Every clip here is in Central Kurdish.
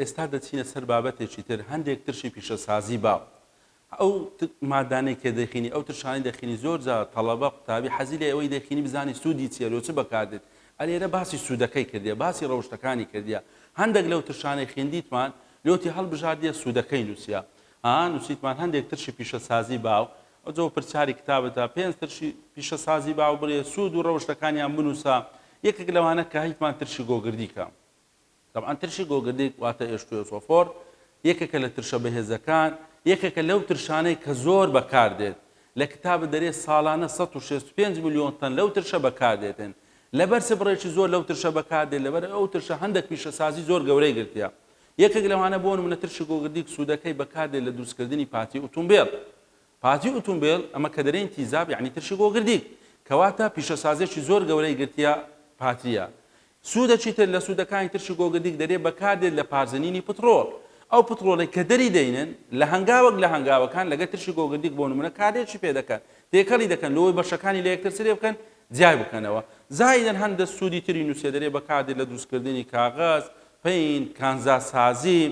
ئێستا دەچینە سەر بابەتێکی تر، هەندێک ترشی پیشەسازی باو، ئەو مادانەی کە دەخینی، ئەو ترشانەی دەخینی، زۆر جار تەڵەبە، قوتابی حەزی لێیە ئەوەی دەخینی بزانێت سوودی چییە، لۆ چ بەکاردێت، ئەلێرە باسی سوودەکەی کردیە، باسی ڕەوشتەکانی کردیە، هەندێک لەو ترشانەی خیندیتمان لۆتی هەڵبژاردیە سوودەکەی نووسیە، ها نووسیتمان هەندێک ترشی پیشەسازی باو، ئەوجۆ پرسیاری کتابتە پێنج ترشی پیشەسازی باو بڵێ سوود و ڕەوشتەکانیان بنووسە، یەکێک لەوانە کە هیتمان ترشی گۆگردیکە. تەبعەن ترشی گۆگردیگ واتە ئێشتیۆسۆفۆر یەکێکە لە ترشە بەهێزەکان، یەکێکە لەو ترشانەی کە زۆر بەکاردێت، لە کتاب دەرێ ساڵانە سەد و شەست و پێنج ملیۆن تەن لەو ترشە بەکاردێتن، لە بەرچ بڕێکی زۆر لەو ترشە بەکاردێت، لەبەر ئەو ترشە هەندەک پیشەسازی زۆر گەورەی گرتیە. یەکێک لەوانە بۆ نمونە ترشی گۆگردیگ سوودەکەی بەکاردێت لە دروستکردنی پارتی ئوتومبێل، پارتی ئوتومبێل، ئەمە کە دەرێین تیزاب یەعنی ترشی بۆ گردیک. کەواتە پیشەسازێکی زۆر گەورەی گرتیە پاتریە. سوودەکی تر لە سوودەکانی ترشی گۆگردیک دەرێ بەکار دێت لە پارزنینی پتڕۆڵ. ئەو پتڕۆڵەی کە دەری دەینن لە هەنگاوەک لە هەنگاوەکان لەگەر ترشی گۆگردیک بۆ نموونە کارلێکی پێ دەکەن تێکەڵی دەکەن لۆوەی بەشەکانی لە یەکتر چلێ بکەن جیای بکەنەوە. زائیدەن هەندە سوودی تری نووسێ دەرێ بەکار دێت لە دروست کردنی کاغەز، پەین، کانزاسازی،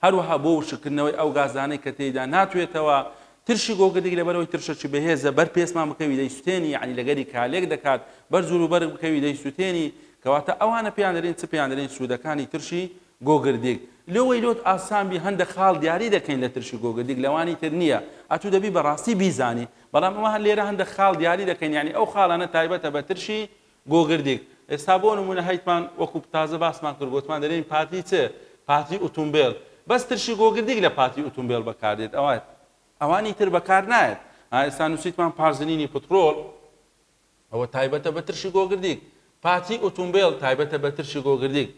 هەروەها بۆ وشککردنەوەی ئەو گازانەی کە تێیدا ناتوێتەوە، ترشی گۆگردیگ لەبەرئەوەی ترشەکی بەهێزە بەر پێستمان بکەوی دەیسوتێنی یەعنی لەگەری کالێک دەکات بەر جور و بەرگ بکەوی دەیسوتێنی کەواتە ئەوانە پێیان دەرێن چ پێیان دەرێن سودەکانی ترشی گۆگردیگ لۆوەی لۆت ئاسان بی هەندەک خاڵ دیاری دەکەین لە ترشی گۆگردیگ لەوانی تر نییە ئەتو دەبی بەڕاستی بیزانی بەڵام ئەوە هەر لێرە هەندەک خاڵ دیاری دەکەین یەعنی ئەو خاڵانە تایبەتە بە ترشی گۆگردیک، ئێستا بۆ نموونە هەیتمان وەکو تازە باسمان کرد گۆتمان دەلێین پاتی چ؟ پاتی ئوتومبێل، بەس ترشی گۆگردیک لە پاتی ئوتومبێل بەکار دێت ئەوات ئەوانی تر بەکار نایەت ها ئێستا نووسیتمان پارزنینی پتڕۆل ئەوە تایبەتە بە ترشی گۆگردیک پاتی ئوتومبێل تایبەتە بە ترشی گۆگردیک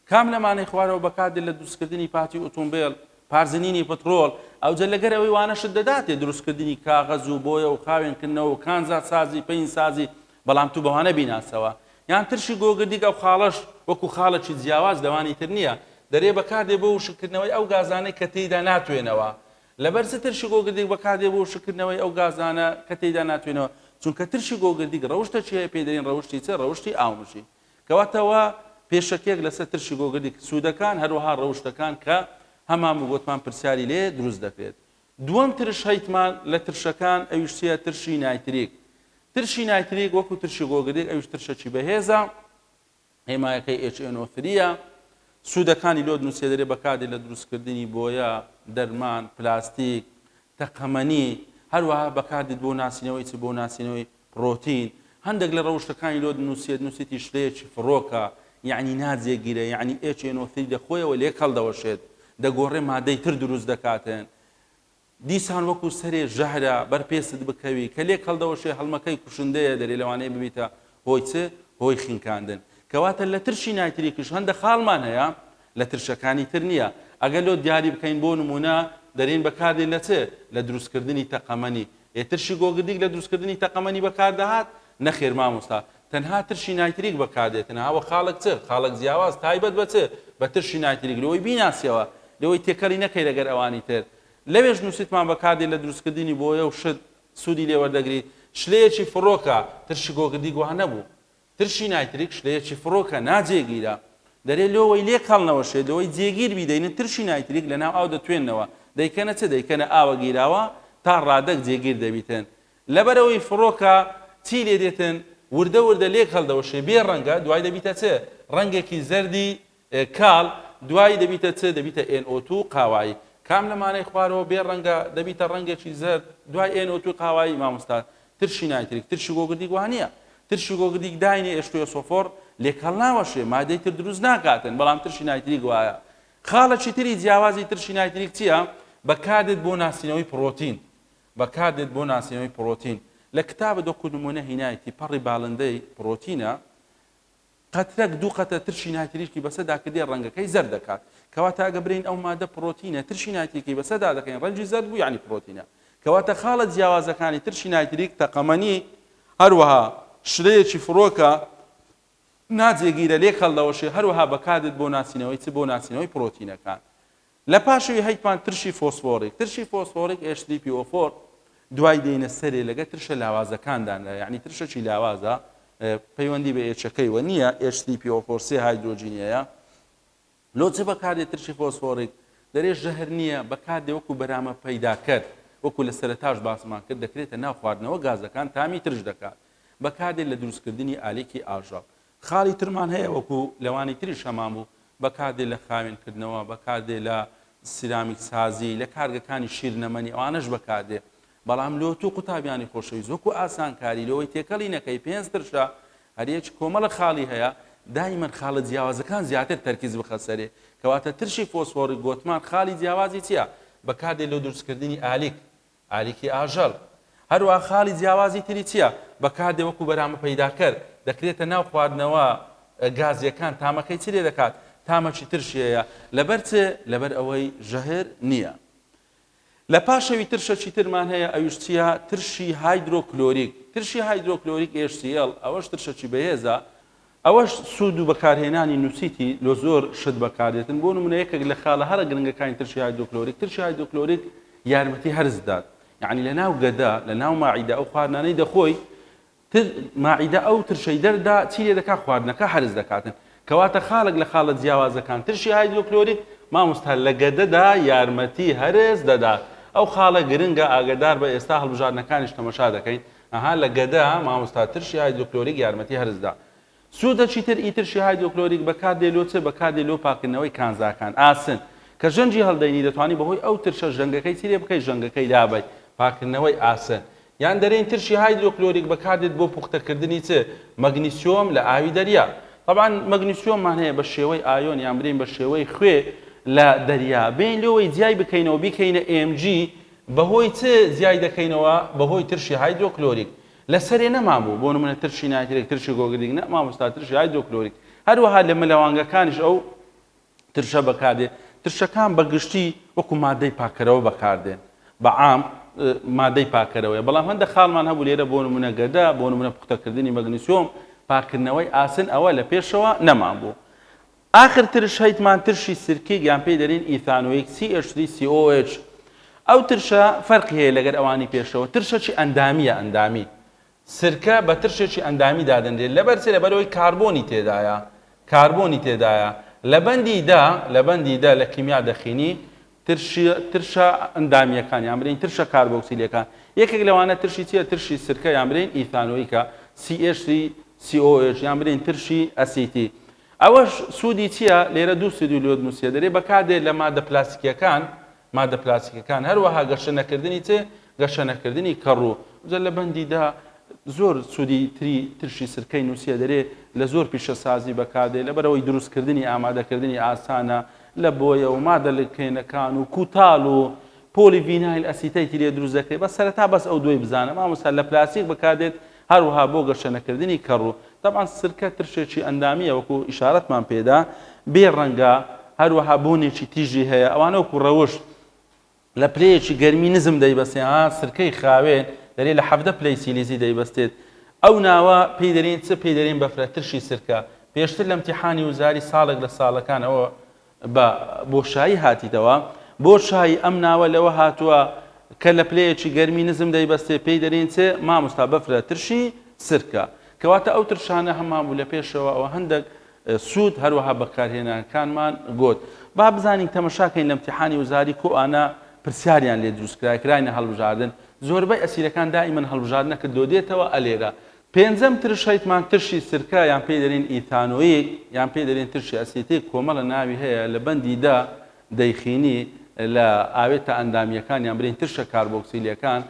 کام لەمانەی خوارەوە بەکار دێت لە دروستکردنی پاتی ئوتومبێل، پارزنینی پترۆل، ئەوجە لەگەر ئەوەی وانە شت دەداتێ دروستکردنی کاغەز و بۆیە و خاوێن کردنەوە و کانزا سازی پەین سازی بەڵام تو بەوانە بیناسەوە یان ترشی گۆگردیک ئەو خاڵەش وەکو خاڵەکی جیاواز لەوانی تر نیە دەرێ بەکار دێ بۆ وشک کردنەوەی ئەو گازانەی کە تێیدا ناتوێنەوە لەبەر چ ترشی گۆگردیک بەکار دێ بۆ وشک کردنەوەی ئەو گازانە کە تێیدا ناتوێنەوە چونکە ترشی گۆگردیک ڕەوشتەکی هەیە پێی دەرین ڕەوشتی چ ڕەوشتی ئاومژین. کەواتە وا پێشەکیەک لەسەر ترشی گۆگردی ک سوودەکان هەروەها ڕەوشتەکان کە هەمان وگۆتمان پرسیاری لێ دروست دەکرێت. دووەم ترش هەیتمان لە ترشەکان ئەویش چیە ترشی نایتریک ترشی نایتریک وەکو ترشی گۆگردیک ئەویش ترشەکی بەهێزە هێمایەکەی HNO3 یە سوودەکانی لۆ نووسێدەێ بەکاردێ لە دروستکردنی بۆیە، دەرمان، پلاستیک، تەقەمەنی، هەروەها بەکاردێت بۆ ناسینەوەی چ بۆ ناسینەوەی ڕۆتین، هەندەک لە ڕەوشتەکانی لۆ دنوسێت، نوسیتی شلەیەکی فڕۆکە، یەعنی ناجێگیرە، یەعنی ئێچ ئێن ئۆ ثری لە خۆیەوە لێک هەڵدەوەشێت، دەگۆڕێ مادەی تر دروست دەکاتن، دیسان وەکو سەرێ ژەهرە بەر پێست بکەوی، کە لێک هەڵدەوەشێ هەڵمەکەی کوشندەیە دەرێ لەوانەیە ببیتە هۆی چ؟ هۆی خنکاندن. کەواتە لە ترشی نایتریکش هەندە خاڵمان هەیە لە ترشەکانی تر نییە. ئەگەر لۆ دیاری بکەین بۆ نموونە دەرێین بەکاردێت لە چ؟ لە دروستکردنی تەقەمەنی. ئێ ترشی گۆگردیک لە دروستکردنی تەقەمەنی بەکاردەهات؟ نەخێر مامۆستا. تەنها ترشی نایتریک بەکاردێتن ها وە خاڵک چ؟ خاڵک جیاواز تایبەت بە چ؟ بە ترشی نایتریک لۆی بیناسیەوە. لۆی تێکەڵی نەکەی لەگەر ئەوانی تر. لەوێش نووسیتمان بەکاردێت لە دروستکردنی بۆیە و شت سوودی لێ وەردەگریت. شلەیەکی فڕۆکە. ترشی گۆگردیک وا نەبوو. ترشی نایتریک شلەیەکی فڕۆکە ناجێگیرە، دەرێ لۆوەی لێ کەڵ نەوەشێ لۆوەی جێگیر بی دەینن ترشی نایتریک لە ناو ئاو دەتوێننەوە دەیکەنە چ دەیکەنە ئاوە گیراوە تا ڕادەک جێگیر دەبیتن لەبەرەوەی فڕۆکە چی لێ دێتن وردە وردە لێک هەڵدەوەشێ بێ ڕەنگە دوای دەبیتە چ ڕەنگێکی زەردی کال، دوایی دەبیتە چ؟ دەبیتە ئێن ئۆ توو، قاوایی. کام لەمانەی خوارەوە بێ ڕەنگە؟ دەبیتە ڕەنگێکی زەرد، دوای ئێن ئۆ تووی قاوایی، مامۆستا، ترشی نایتریک، ترشی گۆگردیک وانییە؟ ترشی گۆگردیک داینێ ئێشتوویە سۆفۆڕ، لێک هەڵناوەشێ، مادەی تر دروست ناکاتن، بەڵام ترشی نایتریک وایە. خاڵێکی تری جیاوازی ترشی نایتریک چییە؟ بەکار دێت بۆ ناسینەوەی پڕۆتین. بەکار دێت بۆ ناسینەوەی پڕۆتین. لە کتابت وەکوو نموونە هینایتی، پەڕی بالندەی، پڕۆتینە. قەترەک دوو قەترە ترشی نایتریکی بەسە داکردێ ڕەنگەکەی زەرد دەکات کەواتە ئەگە برێین ئەو مادە پڕۆتینە ترشی نایتریکی بەسە دادەکەین ڕەنگی زەرد بوو یانی پڕۆتینە کەواتە خاڵە جیاوازەکانی ترشی نایتریک تەقەمەنی هەروەها شرەیەکی فڕۆکە ناجێگیرە لێک هەڵدەوەشێ هەروەها بەکاردێت بۆ ناسینەوەی چ بۆ ناسینەوەی پڕۆتینەکان لە پاشەوی هەیتمان ترشی فۆسفۆڕیک، ترشی فۆسفۆڕیک HDPO4 دوای دێینە سەرێ لەگە ترشە لاوازەکاندانرا یانی ترشەکی لاوازە پەیوەندی بە ئێچەکەی وە نییە HDPO4 سێ هایدرۆجینیەیە لۆ چ بەکاردێ ترشی فۆسفۆڕیک دەرێ ژەهر نییە بەکاردێ وەکو بەرامە پەیداکەر وەکو لە سەرتاش باسمان کرد دەکرێتە ناو خواردنەوە گازەکان تامی ترش دەکات بەکاردێت لە دروستکردنی ئالێکی ئاژەڵ خاڵی ترمان هەیە وەکو لەوانی تریش هەمان بوو بەکاردێ لە خاوێن کردنەوە بەکاردێ لە سیرامیک سازی لە کارگەکانی شیرنەمەنی ئەوانەش بەکاردێ بەڵام لۆ تو قوتابیانی خۆشەویست وەکو ئاسانکاری لەوەی تێکەڵی نەکەی پێنج ترشە هەریەک کۆمەڵە خاڵی هەیە دایمەن خاڵە جیاوازەکان زیاتر تەرکیز بخە سەرێ کەواتە ترشی فۆسفۆڕی گۆتمان خاڵی جیاوازی چییە بەکاردێ لۆ دروستکردنی ئالیک ئالیکی ئاژەڵ، هەروەها خاڵی جیاوازی تری چییە؟ بەکاردێ وەکو بەرامە پەیداکەر، دەکرێتە ناو خواردنەوە گازییەکان، تامەکەی چ لێدەکات؟ تامەکی ترشییە، لەبەر چ؟ لەبەر ئەوەی ژەهر نییە. لە پاشەوی ترشەکی ترمان هەیە، ئەویش چییە؟ ترشی هایدرۆکلۆریک، ترشی هایدرۆکلۆریک، HCL، ئەوەش ترشەکی بەهێزە، ئەوەش سوود و بەکارهێنانی نووسیتی لۆ زۆر شت بەکاردێتن بۆ نمونە یەکێک لە خالە هەرە گرنگەکانی ترشی هایدۆکلۆریک ترشی هایدۆکلۆریک یارمەتی هەرس دات یعنی لە ناو گەدە لە ناو ماعیدە ئەو خواردنانەی دەخۆی تر ماعیدە ئەو ترشەی دەردا چی لێ دەکات خواردنەکە هەرس دەکاتن کەواتە خالک لە خالە جیاوازەکان ترشی هایدرۆکلۆریک مامۆستا لە گەدەدا یارمەتی هەرس دەدات ئەو خاڵە گرنگە ئاگدار بە ئێستا هەڵبژاردنەکانیش تەمەشا دەکەین ئەها لە گەدە مامۆستا ترشی هایدرۆکلۆریک یارمەتی هەرس دا سودە چیتر ئی ترشی هایدرۆکلۆریک بەکار دێ لۆ چ بەکار دێ لۆ پاکردنەوەی کانزاکان ئاسن کە ژەنگی هەلدەینی دەتوانی بەهۆی ئەو ترشە ژەنگەکەی چی لێ بکەی ژەنگەکەی لابەی پاکردنەوەی ئاسن یان دەرێن ترشی هایدرۆکلۆریک بەکار دێت بۆ پوختە کردنی چ مەگنیسیۆم لە ئاوی دەریا طبعا مەگنیسیۆممان هەیە بە شێوەی ئایۆن یان برێن بە شێوەی خوێ لە دەریا بێین لۆوەی جیای بکەینەوە بیکەینە ئێم جی بەهۆی چ زیای دەکەینەوە؟ بەهۆی ترشی هایدرۆکلۆریک. لە سەرێ نەمابوو، بۆ نموونە ترشی نایترێک، ترشی گۆگردیک، نا مامۆستا ترشی هایدرۆکلۆریک. هەروەها لە مەلەوانگەکانیش ئەو ترشە بەکاردێت. ترشەکان بە گشتی وەکوو ماددەی پاککەرەوە بەکاردێن. بە عام ماددەی پاککەرەوەیە. بەڵام هەندێک خاڵمان هەبوو لێرە بۆ نموونە گەدە، بۆ نموونە پوختەکردنی مەگنیسیۆم، پاککردنەوەی ئاسن ئەوە لە پێشەوە نەمابوو. ئاخر ترش هەیتمان ترشی سرکیگ یان پێی دەرین ئیثانویک، CH3COOH، ئەو ترشە فەرقی هەیە لەگەر ئەوانی پێشەوە، ترشەکی ئەندامیە ئەندامی، سرکە بە ترشێکی ئەندامی دادەنرێ، لەبەر چ؟ لەبەر ئەوەی کاربۆنی تێدایە، کاربۆنی تێدایە، لە بەندی دە، لە بەندی دە لە کیمیا دەخینی ترشی، ترشە ئەندامیەکان یان برێین ترشە کاربۆکسیلەکان، یەکێک لەوانە ترشی چیە؟ ترشی سرکە یان برێین ئیثانویکە، CH3COOH، یان برێین ترشی ئەسیتی. ئەوەش سوودی چییە؟ لێرە دوو سوودی لۆد نووسییە دەرێ بەکاردێت لە ماددە پلاستیکییەکان، ماددە پلاستیکییەکان، هەروەها گەشە نەکردنی چ؟ گەشە نەکردنی کەڕوو. جا لە بەندی دە زۆر سوودی تری ترشی سرکەی نووسییە دەرێ لە زۆر پیشەسازی بەکاردێ لەبەرئەوەی دروستکردنی ئامادەکردنی ئاسانە لە بۆیە و ماددە لکێنەکان و کوتاڵ و پۆلی ڤینایل ئەسیتەیتی لێ دروست دەکرێ بەس سەرەتا بەس ئەو دووەی بزانە مامۆستا لە پلاستیک بەکاردێت هەروەها بۆ گەشەنەکردنی کەڕو. تەبعەن سرکە ترشێکی ئەندامییە وەکو ئیشارەتمان پێدا بێ ڕەنگە هەروەها بۆنێکی تیژی هەیە ئەوانە وەکو ڕەوش لە پلەیەکی گەرمی نزم دەیبەستێن ئا سرکەی خاوێن دەرێ لە حەڤدە پلەی سیلیزی دەیبەستێت ئەو ناوە پێی دەرێن چ پێی دەرێن بەفرە ترشی سرکە پێشتر لە امتیحانی وزاری ساڵێک لە ساڵەکان ئەوە بە بۆشایی هاتیتەوە. بۆشایی ئەم ناوە لەوە هاتووە کە لە پلەیەکی گەرمی نزم دەیبەستێ پێی دەرێین چێ؟ ماموستا بەفرە ترشی سرکە. کەواتە ئەو ترشانە هەمان بوو لە پێشەوە ئەوە هەندەک سوود هەروەها بەکارهێنانکانمان گۆت. با بزانین تەمەشا کەین لە امتیحانی وزاری کو ئانە پرسیاریان لێ دروست کرایە کراینە هەڵبژاردن زۆربەی ئەسیرەکان دائیمەن هەڵبژاردنەکە دۆدێتەوە ئەلێرە پێنجەم ترش هەیتمان ترشی سرکە یان پێی دەلین ئیتانۆیک یان پێی دەلین ترشی ئەسیتیک کۆمەلە ناوی هەیە لە بەندی دە دەیخینی لە ئاوێتە ئەندامیەکان یان بلین ترشە کاربۆکسیلیەکان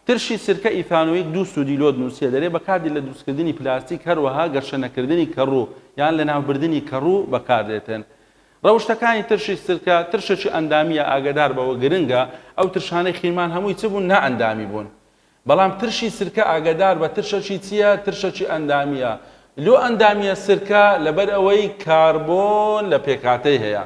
ترشی سرکە ئیتانۆیک دوو سودی لۆ دنوسیە دەلێ بەکاردین لە دروستکردنی پلاستیک هەروەها گەشە نەکردنی کەڕوو یان لە ناوبردنی کەڕوو بەکاردێتن رەوشتەکانی ترشی سرکە ترشەکی ئەندامیە ئاگەدار بەوە گرنگە ئەو ترشانەی خینمان هەمووی چ بوون نا ئەندامی بوون بەڵام ترشی سرکە ئاگەداربە ترشەکی چیە ترشەکی ئەندامیە لۆ ئەندامیە سرکە لەبەر ئەوەی کاربۆن لە پێکهاتەی هەیە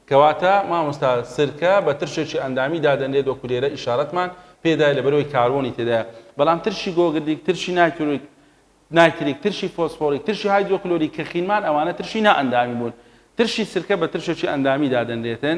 کەواتە مامۆستا سرکە بە ترشێکی ئەندامی دادەنرێت وەکو لێرە ئیشارەتمان پێدایە لەبەرئەوەی کاربۆنی تێدایە بەڵام ترشی گۆگردیک ترشی نایترویک نایتریک، ترشی فۆسفۆڕی، ترشی هایدرۆکلۆریک کە خینمان ئەوانە ترشی نا ئەندامی بوون. ترشی سرکە بە ترشێکی ئەندامی دادەنرێتن.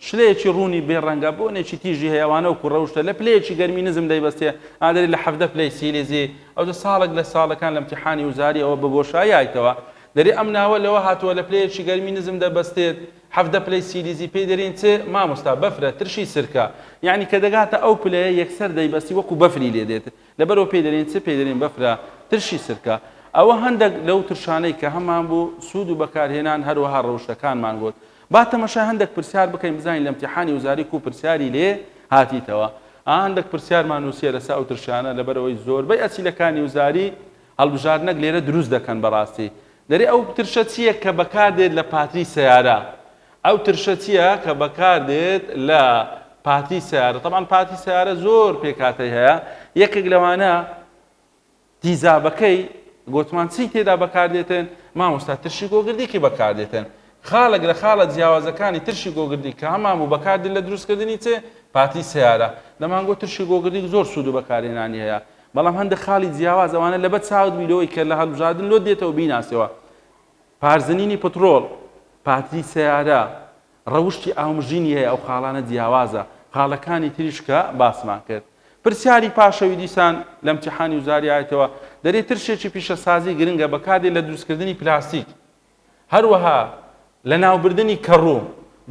شلەیەکی ڕوونی بێ ڕەنگە، بۆنێکی تیژی هەیە، ئەوانە وەکو ڕەوشتە، لە پلەیەکی گەرمی نزم دەیبەستێ، ئادەری لە حەڤدە پلەی سیلیزی. ئەوجە ساڵێک لە ساڵەکان لە امتیحانی وزاری ئەوە بە بۆشایی هایتەوە. دەرێ ئەم ناوە لەوە هاتووە لە پلەیەکی گەرمی نزم دەبەستێت، حەڤدە پلەی سیلیزی پێی دەرێن چ؟ مامۆستا بەفرە، ترشی سرکە. یانی کە دەگاتە ئەو پلەیە یەکسەر دەیبەستی وەکو بەفری لێ دێت. لەبەرئەوە پێی دەلێن چ؟ پێی دەلێن بەفرە ترشی سرکە. ئەوە هەندەک لەو ترشانەی کە هەمان بوو سوود و بەکارهێنان هەروەها رەوشتەکانمان گوت. با تەمەشای هەندەک پرسیار بکەین بزانین لە امتیحانی وزاری کوو پرسیاری لێ هاتیتەوە. ئا هەندەک پرسیارمان نووسیە لەسە ئەو ترشانە لەبەرئەوەی زۆربەی ئەسیلەکانی وزاری هەڵبژاردنەک لێرە دروست دەکەن بەڕاستی دەرێ ئەو ترشە چیە کە بەکاردێت لە پاتری سەیارە؟ ئەو ترشە چیە کە بەکاردێت لە پاتی سەیارە تەبعەن پاتی سەیارە زۆر پێکاتەی هەیە یەکێک لەوانە تیزابەکەی گۆتمان چی تێدا بەکاردێتن مامۆستا ترشی گۆگردیکی بەکاردێتن خاڵێک لە خاڵە جیاوازەکانی ترشی گۆگردی کە هەمان بوو بەکاردی لە دروستکردنی چێ پاتی سیارە دەمانگۆ ترشی گۆگردی زۆر سوود و بەکارێنانی هەیە بەڵام هەندە خاڵی جیاواز ئەوانە لەبەر چاوت بیرەوەی کە لە هەڵبژاردن لۆ دێتەوە بیناسەوە پارزنینی پتڕۆڵ، پاتری سەیارە، ڕەوشتی ئاومژینی هەیە ئەو خاڵانە جیاوازە، خاڵەکانی تریش کە باسمان کرد. پرسیاری پاشەوی دیسان لە امتیحانی وزاری ئایتەوە دەرێ ترشێکی پیشەسازی گرنگە بەکاردێت لە دروستکردنی پلاستیک هەروەها لەناوبردنی کەڕو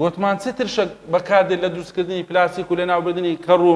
گۆتمان چ ترشەک بەکاردێت لە دروستکردنی پلاستیک و لەناوبردنی کەڕو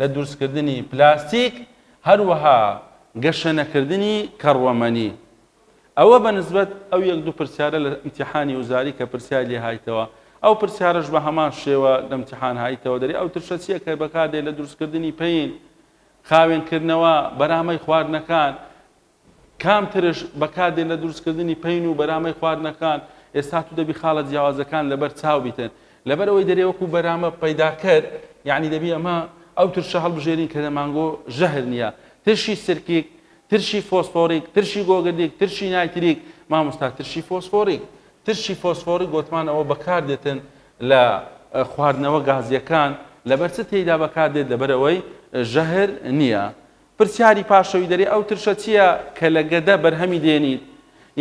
لە دروستکردنی پلاستیک، هەروەها گەشەنەکردنی کەڕوەمەنی. ئەوە بە نسبەت ئەو یەک دوو پرسیارە لە ئیمتیحانی وزاری کە پرسیاری لێ هایتەوە، ئەو پرسیارەش بە هەمان شێوە لە ئیمتیحان هایتەوە، دەرێ ئەو ترشە چییە کە بەکاردێت لە دروستکردنی پەین، خاوێنکردنەوە، بەرامەی خواردنەکان، کام ترش بەکار دێن لە دروست کردنی پەین و بەرامەی خواردنەکان، ئێستا تو دەبی خاڵە جیاوازەکان لەبەر چاو بیتن لەبەر ئەوەی دەرێ وەکو بەرامە پەیداکەر یانی دەبی ئەمە ئەو ترشە هەڵبژێرین کە لە مانگۆ ژەهر نیە ترشی سرکیک ترشی فۆسفۆریک ترشی گۆگردیک ترشی نایتریک مامۆستا ترشی فۆسفۆریک ترشی فۆسفۆریک گۆتمان ئەوە بەکار دێتن لە خواردنەوە گازیەکان لەبەر چ تێیدا بەکار دێت لەبەر ئەوەی ژەهر نیە پرسیاری پاشەوی دەرێ ئەو ترشە چییە کە لە گەدە بەرهەمی دێنیت؟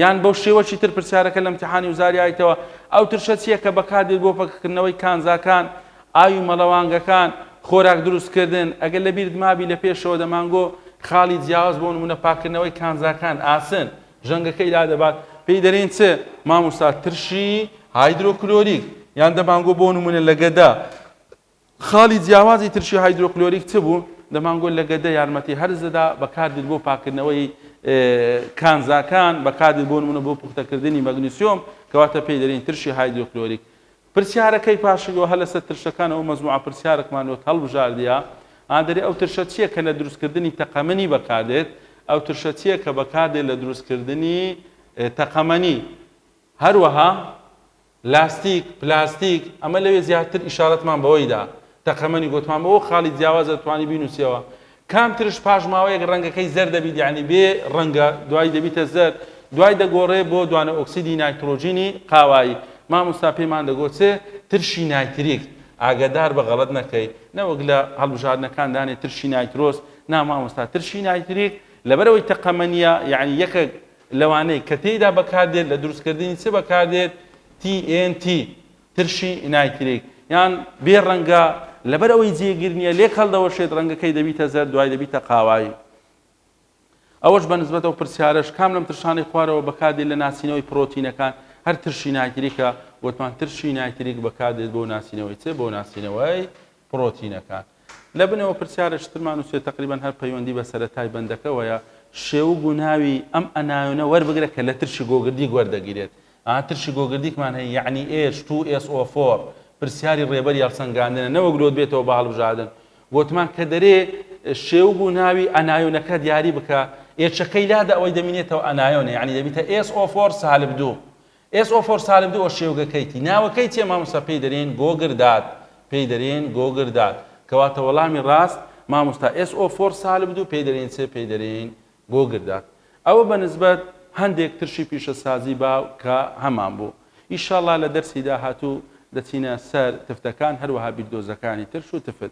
یان بەو شێوەکی تر پرسیارەکە لە امتحانی وزاری ئایتەوە ئەو ترشە چییە کە بەکاردێت بۆ پەککردنەوەی کانزاکان، ئاوی مەڵەوانگەکان، خۆراک دروستکردن؟ ئەگەر لە بیرت مابی لە پێشەوە دەمانگۆ خاڵی جیاواز بۆ نموونە پاککردنەوەی کانزاکان، ئاسن، ژەنگەکەی لادەبات، پێی دەرێن چ؟ مامۆستا ترشی هایدرۆکلۆریک یان دەمانگۆ بۆ نموونە لە گەدە خاڵی جیاوازی ترشی هایدرۆکلۆریک چ بوو؟ دەمانگۆ لە گەدە یارمەتی هەرس دەدا، بەکاردێت بۆ پاککردنەوەی کانزاکان، بەکاردێت بۆ نموونە بۆ پوختەکردنی مەگنیسیۆم، کەواتە پێی دەرێین ترشی هایدرۆکلۆریک. پرسیارەکەی پاشگەوە هەر لەسەر ترشەکان ئەو مەجموعە پرسیارەکمان لۆت هەڵبژاردیە ئا دەرێ ئەو ترشە چیە کە لە دروستکردنی تەقەمەنی بەکاردێت ئەو ترشە چیە کە بەکاردێت لە دروستکردنی تەقەمەنی هەروەها لاستیک، پلاستیک، ئەمە لەوێ زیاتر ئیشارەتمان بەوەی دا. تەقەمەنی گۆتمان بۆ ئەو خاڵی جیاوازە توانی بینوسیەوە. کام ترش پاش ماوەیەک ڕەنگەکەی زەرد دەبیت یانی بێ ڕەنگە دوای دەبیتە زەرد دوای دەگۆڕێ بۆ دوانە ئۆکسیدی نایترۆجینی قاوایی مامۆستا پێمان دەگۆ چ ترشی نایتریک ئاگەدار بە غەڵەت نەکەی نەوەک لە هەڵبژاردنەکان دانێ ترشی نایترۆس نا مامۆستا ترشی نایتریک لەبەرەوەی تەقەمەنیە یانی یەکەک لەوانەی کە تێیدا بەکاردێت لە دروستکردنی چ بەکاردێت TNT ترشی نایتریک یان بێ ڕەنگە لەبەر ئەوەی جێگر نییە لێک هەڵدەوەشێت ڕەنگەکەی دەبیتە زەرد دوای دەبیتە قاوایی ئەوەش بە نسبەت ئەو پرسیارەش کام لەم ترشانەی خوارەوە بەکاردێت لە ناسینەوەی پرۆتینەکان هەر ترشی نایتریکە وتمان ترشی نایتریک بەکاردێت بۆ ناسینەوەی چ بۆ ناسینەوەی پڕۆتینەکان. لە بنەوە پرسیارە چترمان نووسیوە تەقریبەن هەر پەیوەندی بە سەرەتای بەندەکەوەیە، شێوگ و ناوی ئەم ئەنایۆنە وەربگرە کە لە ترشی گۆگردیک وەردەگیرێت. ئا ترشی گۆگردیکمان هەیە یەعنی ئێچ توو ئێس ئۆ فۆر پرسیاری ڕێبەری هەڵسەنگاندنە نەوەک لۆت بێتەوە بە هەڵبژادن. گۆتمان کە دەرێ شێوگ و ناوی ئەنایۆنەکە دیاری بکە، ئێچەکەی لادە ئەوەی دەمینێتەوە ئەنایۆنە یەعنی دەبیتە ئێس ئۆ فۆر سالب دوو. ئێس ئۆ فۆر سالب دوو ئۆ شێوگە کەیتی ناوەکەی چیە مامۆستا پێی دەرێن گۆگر داد پێی دەرێن گۆگر داد کەواتە وەڵامی ڕاست مامۆستا ئێس ئۆ فۆر سالب دوو پێی دەرێن چ پێی دەرێن گۆگر داد ئەوە بە نسبەت هەندێک ترشی پیشەسازی باو کە هەمان بوو ئیشاڵا لە دەرسی داهاتوو دەچینە سەر تفتەکان هەروەها بیردۆزەکانی ترش و تفت